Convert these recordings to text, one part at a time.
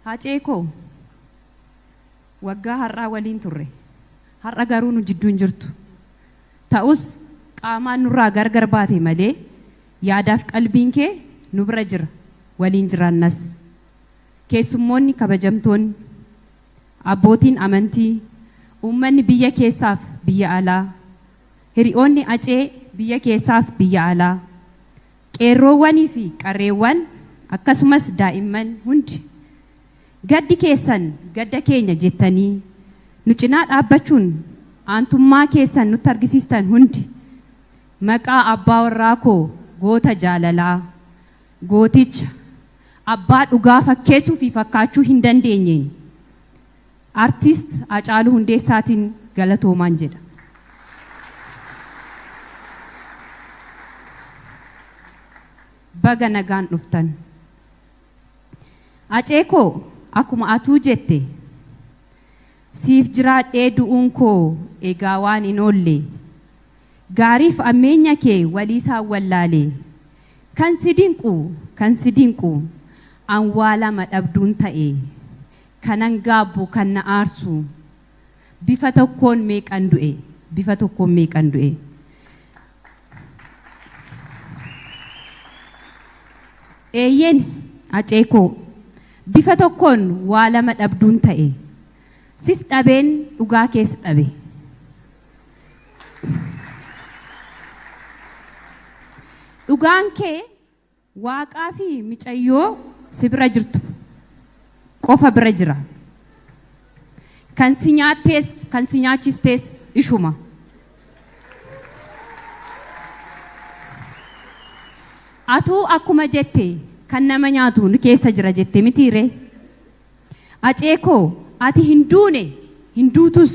Hacee koo waggaa har'aa waliin turre. Har'a garuu nu jidduu hin jirtu. Ta'us qaamaan nurraa gargar baate malee yaadaaf qalbiin kee nu bira jira, waliin jiraannas. Keessummoonni kabajamtoonni, abbootiin amantii, uummanni biyya keessaaf biyya alaa, hiri'oonni Hacee biyya keessaaf biyya alaa, Qeerroowwanii fi qarreewwan akkasumas daa'imman hundi gaddi keessan gadda keenya jettanii nu cinaa dhaabbachuun aantummaa keessan nutti argisiistan hundi maqaa abbaa warraa koo goota jaalalaa, gooticha, abbaa dhugaa fakkeessuu fi fakkaachuu hin dandeenyeen Artist Hacaaluu Hundeessaatiin galatoomaan jedha. Baga nagaan dhuftan. Hacee koo akkuma atuu jette siif jiraadhee du'uun koo egaa waan hin oolle. Gaariif ammeenya kee waliisaan wallaale. Kan si dinqu kan si dinqu an waa lama dhabduun ta'e. Kanan gaabbu, kan na aarsu. Bifa tokkoon meeqan du'e, bifa tokkoon meeqan du'e. Eeyyeen, Hacee koo. Bifa tokkoon waa lama dhabduun ta'e. Sis dhabeen, dhugaa kees dhabe. Dhugaan kee. Waaqaa fi micayyoo si bira jirtu qofa bira jira. Kan si nyaattees kan si nyaachistees ishuma. Atuu akkuma jette kan nama nyaatu nu keessa jira jette mitii ree? Acee koo ati hin duune hin duutus.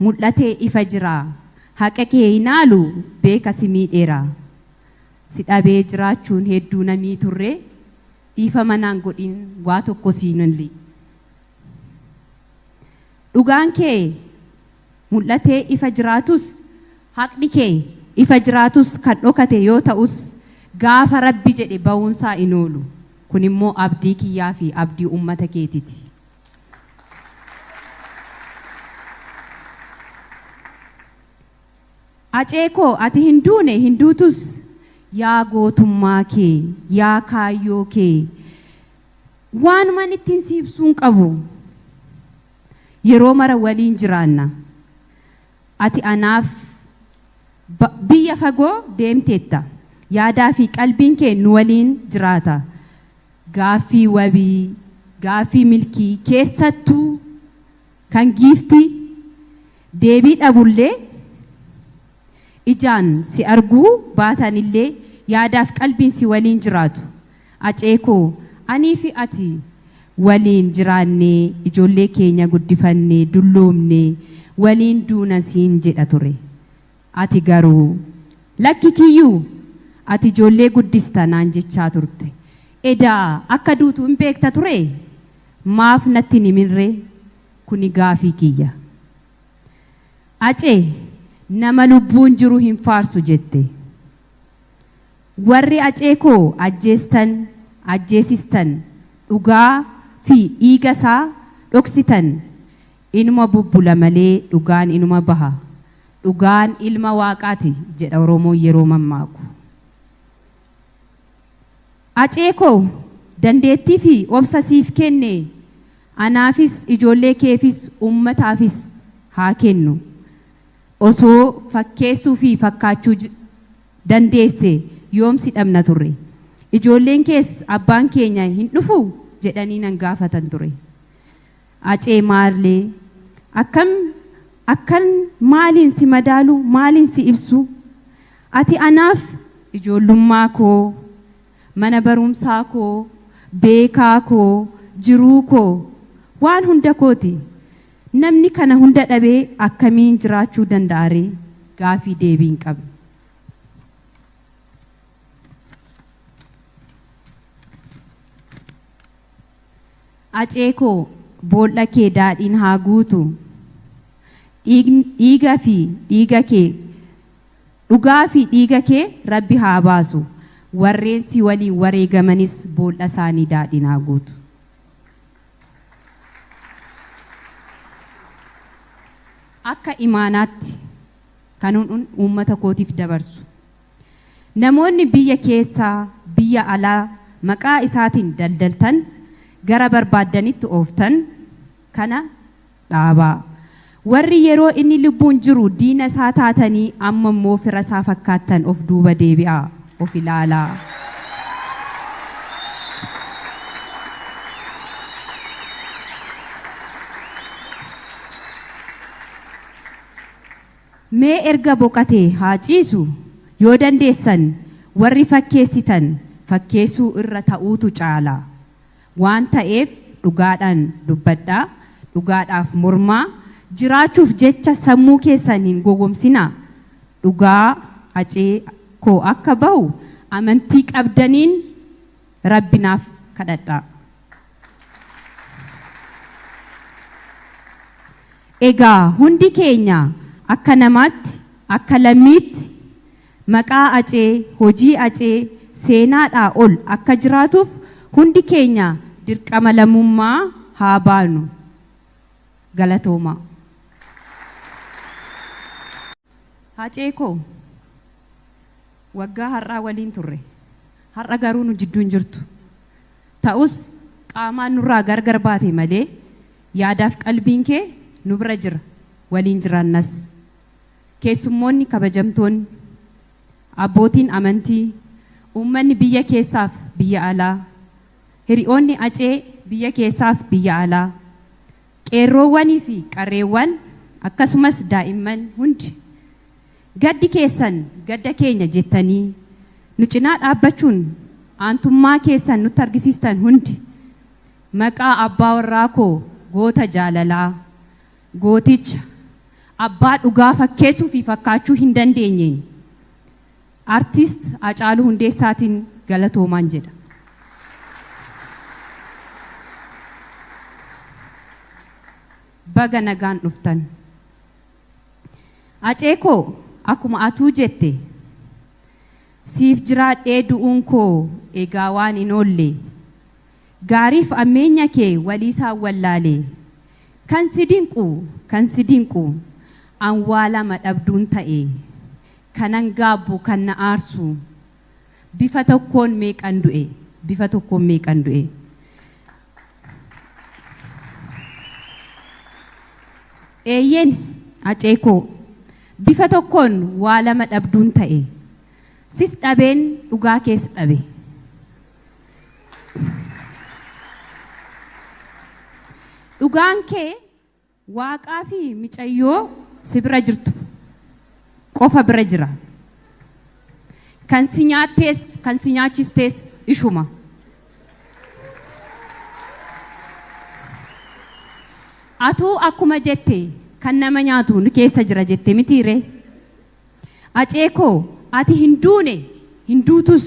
mul'ate ifa jira Haqa kee hin haalu beeka si miidheera Si dhabee jiraachuun hedduu na miiturre Dhiifama naan godhin waa tokko siin olli Dhugaan kee mul'ate ifa jiraatus Haqni kee ifa jiraatus Kan dhokate yoo ta'us Gaafa Rabbi jedhe bahuunsaa hin oolu Kunimmoo abdii kiyyaafi abdii ummata keetiti. Acee koo ati hin duune hin duutus yaa gootummaa kee yaa kaayyoo kee waanumaan ittiin si ibsuun qabu yeroo mara waliin jiraanna ati anaaf ba- biyya fagoo deemteetta yaadaa fi qalbiin kee nu waliin jiraata Gaaffii wabii, gaaffii milkii, keessattuu kan giiftii deebii dhabullee ijaan si arguu baatanillee yaadaaf qalbiin si waliin jiraatu. Acee koo, aniifi ati waliin jiraannee ijoollee keenya guddifannee dulloomnee waliin duuna siin jedha ture. Ati garuu, Lakki Kiyyuu! Ati ijoollee guddista naan jechaa turte. Edaa akka duutu in beekta turee? Maaf natti hin himinree? Kuni gaafii kiyya. Acee, Nama lubbuun jiru hin faarsu jette. Warri Acee koo ajjeestan, ajjeesistan, dhugaa fi dhiiga isaa dhoksitan inuma bubbula malee dhugaan inuma baha. Dhugaan ilma waaqaati jedha Oromoon yeroo mammaaku. Acee koo dandeettii fi obsa siif kenne anaafis ijoollee keefis uummataafis haa kennu. Osoo fakkeessuu fi fakkaachuu dandeesse yoom si dhabna turre. Ijoolleen kees abbaan keenya hin dhufu jedhanii nan gaafatan ture. Acee Maarlee, Akkam akkan maaliin si madaalu, maaliin si ibsu? Ati anaaf ijoollummaa koo, mana barumsaa koo, beekaa koo, jiruu koo, waan hunda kooti. Namni kana hunda dhabee akkamiin jiraachuu danda'aree? Gaaffii deebii hin qabne. Acee koo bool'a kee daadhiin haa guutu dhiign dhiiga fi dhiiga kee dhugaa fi dhiiga kee rabbi haa baasu warreen si waliin wareegamanis bool'a isaanii daadhiin haa guutu. Akka imaanaatti kanuun uummata kootiif dabarsu. Namoonni biyya keessaa, biyya alaa maqaa isaatiin daldaltan, gara barbaaddanitti ooftan kana dhaabaa. Warri yeroo inni lubbuun jiru diina isaa taatanii amma immoo fira isaa fakkaattan of duuba deebi'aa of ilaalaa. Mee erga boqatee haa ciisu, yoo dandeessan warri fakkeessitan fakkeessuu irra ta'uutu caala. Waan ta'eef dhugaadhaan dubbadhaa, dhugaadhaaf mormaa, jiraachuuf jecha sammuu keessan hin gogomsinaa. Dhugaa, Hacee, koo akka bahu amantii qabdaniin Rabbi naaf kadhadhaa. Egaa hundi keenya akka namaatti, akka lammiitti maqaa Acee, hojii Acee seenaadhaa ol akka jiraatuuf hundi keenya dirqama lammummaa haa baanu. Galatoomaa. Hacee koo waggaa har'aa waliin turre. Har'a garuu nu jidduu hin jirtu. Ta'us qaamaan nurraa gar gar baate malee yaadaaf qalbiin kee nu bira jira, waliin jiraannas. Keessummoonni kabajamtoonni, abbootiin amantii, uummanni biyya keessaaf biyya alaa, hiri'oonni Acee biyya keessaaf biyya alaa, Qeerroowwanii fi qarreewwan akkasumas daa'imman hundi gaddi keessan gadda keenya jettanii nu cinaa dhaabbachuun aantummaa keessan nutti argisiistan hundi maqaa abbaa warraa koo goota jaalalaa, gooticha, abbaa dhugaa fakkeessuu fi fakkaachuu hin dandeenyeen Artist Hacaaluu Hundeessaatiin galatoomaan jedha. Baga nagaan dhuftan. Hacee koo akkuma atuu jette siif jiraadhee du'uun koo egaa waan hin oolle. Gaariif ammeenya kee waliisaan wallaale. Kan si dinqu kan si dinqu an waa lama dhabduun ta'e. Kanan gaabbu kan na aarsu. Bifa tokkoon meeqan du'e. Bifa tokkoon meeqan du'e. Eeyyeen Hacee koo. Bifa tokkoon waa lama dhabduun ta'e. Sis dhabeen dhugaa kees dhabe. Dhugaan kee. Waaqaa fi micayyoo si bira jirtu qofa bira jira. Kan si nyaattees kan si nyaachistees ishuma. Atuu akkuma jette kan nama nyaatu nu keessa jira jette mitii ree? Acee koo ati hin duune hin duutus.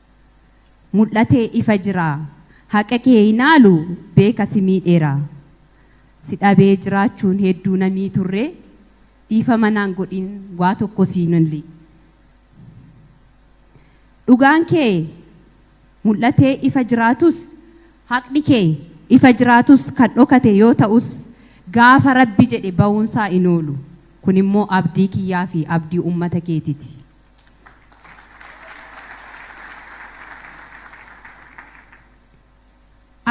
mul'ate ifa jira Haqa kee hin haalu beeka si miidheera Si dhabee jiraachuun hedduu na miiturre Dhiifama naan godhin waa tokko siin olli Dhugaan kee mul'ate ifa jiraatus Haqni kee ifa jiraatus Kan dhokate yoo ta'us Gaafa Rabbi jedhe bahuunsaa hin oolu Kunimmoo abdii kiyyaafi abdii ummata keetiti.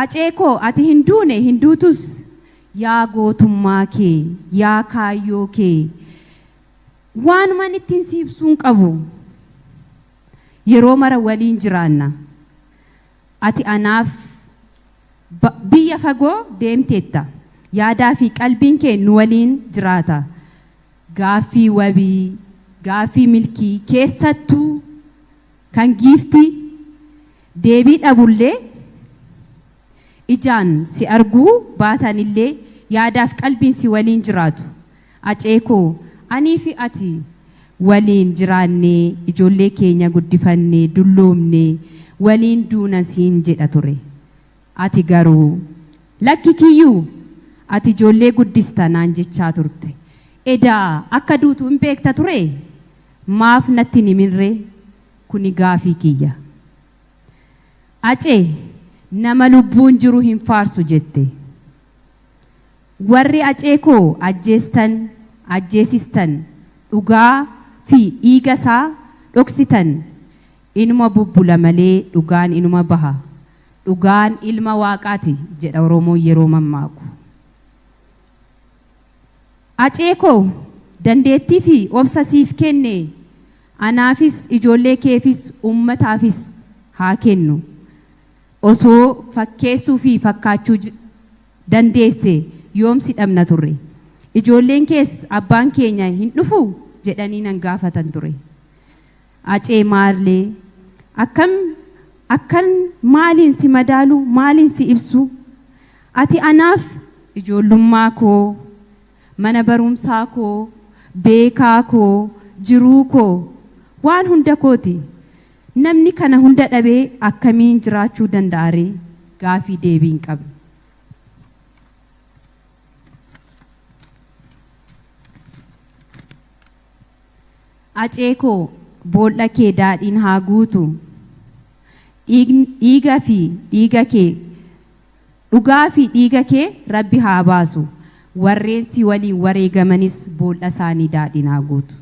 Acee koo ati hin duune hin duutus yaa gootummaa kee yaa kaayyoo kee waanuman ittiin si ibsuun qabu yeroo mara waliin jiraanna ati anaaf ba- biyya fagoo deemteetta yaadaa fi qalbiin kee nu waliin jiraata Gaaffii wabii, gaaffii milkii, keessattuu kan Giiftii deebii dhabullee ijaan si arguu baatanillee yaadaaf qalbiin si waliin jiraatu. Acee koo, aniifi ati waliin jiraannee ijoollee keenya guddifannee dulloomnee waliin duuna siin jedha ture. Ati garuu, Lakki Kiyyuu! Ati ijoollee guddista naan jechaa turte. Edaa akka duutu in beekta turee? Maaf natti hin himinree? Kuni gaafii kiyya. Acee, Nama lubbuun jiru hin faarsu jette. Warri Acee koo ajjeestan, ajjeesistan, dhugaa fi dhiiga isaa dhoksitan inuma bubbula malee dhugaan inuma baha. Dhugaan ilma waaqaati jedha Oromoon yeroo mammaaku. Acee koo dandeettii fi obsa siif kenne anaafis ijoollee keefis uummataafis haa kennu. Osoo fakkeessuu fi fakkaachuu dandeesse yoom si dhabna turre. Ijoolleen kees abbaan keenya hin dhufu jedhanii nan gaafatan ture. Acee Maarlee, Akkam, akkan maaliin si madaalu, maaliin si ibsu? Ati anaaf ijoollummaa koo, mana barumsaa koo, beekaa koo, jiruu koo, waan hunda kooti. Namni kana hunda dhabee akkamiin jiraachuu danda'a ree? Gaafii deebii hin qabne. Acee koo boolla kee daadhiin haa guutu dhiign dhiiga fi dhiiga kee dhugaa fi dhiiga kee rabbi haa baasu warreen si waliin wareegamanis boolla isaanii daadhiin haa guutu.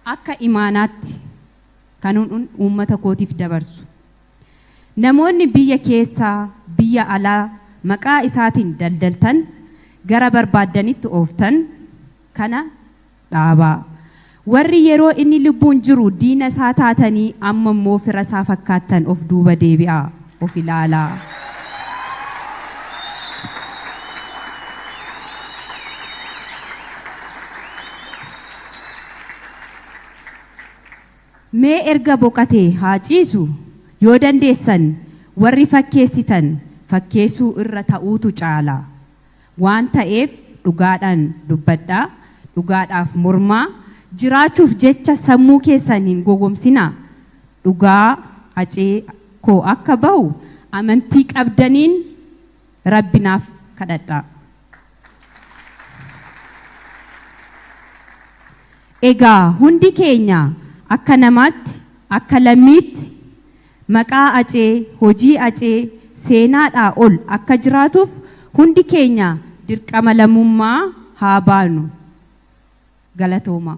Akka imaanaatti kanun uummata kootiif dabarsu. Namoonni biyya keessaa, biyya alaa maqaa isaatiin daldaltan, gara barbaaddanitti ooftan kana dhaabaa. Warri yeroo inni lubbuun jiru diina isaa taatanii amma immoo fira isaa fakkaattan of duuba deebi'aa of ilaalaa. Mee erga boqatee haa ciisu, yoo dandeessan warri fakkeessitan fakkeessuu irra ta'uutu caala. Waan ta'eef dhugaadhaan dubbadhaa, dhugaadhaaf mormaa, jiraachuuf jecha sammuu keessan hin gogomsinaa. Dhugaa Hacee koo akka bahu amantii qabdaniin Rabbi naaf kadhadhaa. Egaa hundi keenya akka namaatti, akka lammiitti maqaa Acee, hojii Acee seenaadhaa ol akka jiraatuuf hundi keenya dirqama lammummaa haa baanu. Galatoomaa!